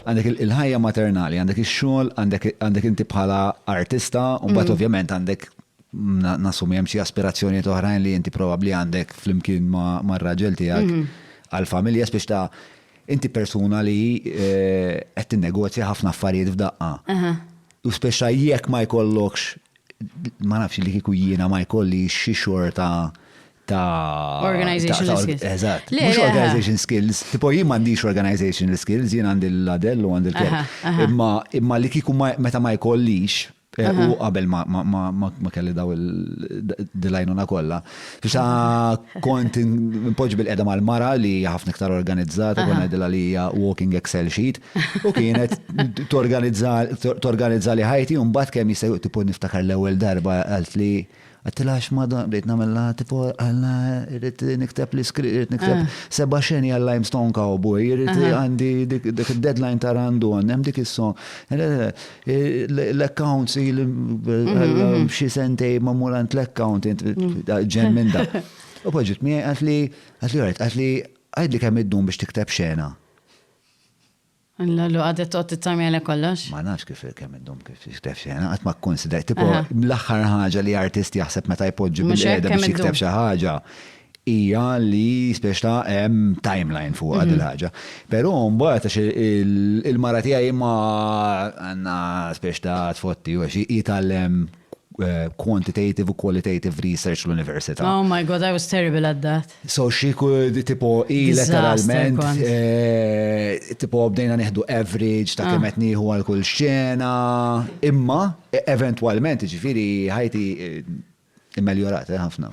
Għandek il-ħajja maternali, għandek ix-xogħol, għandek inti bħala artista, u mbagħad mm. ovvjament għandek nasumi hemm xi aspirazzjonijiet oħrajn li inti probabbli għandek flimkien mar-raġel tiegħek mm. għall-familja biex ta' inti persuna li eh, qed tinnegozja ħafna affarijiet f'daqqa. U speċa jekk ma jkollokx ma nafx li kieku jiena ma jkolli xi xorta ta' organizational skills. Eżatt. Mhux organization skills, tipo jien m'għandix organizational skills, jien għandi l-ladell u għandi l-kelb. Imma imma li kieku meta ma jkollix eh, u qabel ma kelli daw il-dilajnuna kollha. Fisa kont impoġġi bil-qeda mal-mara li ħafna iktar organizzata, kont ngħidilha li hija walking Excel sheet u kienet torganizza li ħajti u mbagħad kemm jista' tipo niftakar l-ewwel darba għalt li Għedtilha għax madan bdejt nagħmilha tipo għalla irrid nikteb li skri, irrid nikteb ah. seba' xeni għal Limestone Cowboy, irrid għandi dik id-deadline ta' Randon, hemm dik is-song. L-accounts mhm. xi sentej ma' mulant l-account mhm. ġen minn da. U poġġiet mi għatli għatli għatli għadli kemm id-dum biex tikteb xena. Alla lu għadet toqgħod tittarmi għalhekk kollox? Ma nafx kif kemm iddum kif jikteb xi ħaġa, qatt ma kkunsidrajt. Tipo l-aħħar ħaġa li artist jaħseb meta jpoġġi bil-qiegħda biex jikteb xi ħaġa hija li spiex ta' hemm timeline fuqha din il-ħaġa. Però mbagħad għax il-mara tiegħi ma għandna spiex ta' tfotti u għax hi tgħallem Eh, quantitative u qualitative research l-Università. Oh my god, I was terrible at that. So she could tipo i letteralment eh, tipo bdejna neħdu average ta' ah. kemm qed nieħu għal kull xena, imma e, eventwalment ġifieri ħajti eh, immeljorat ħafna.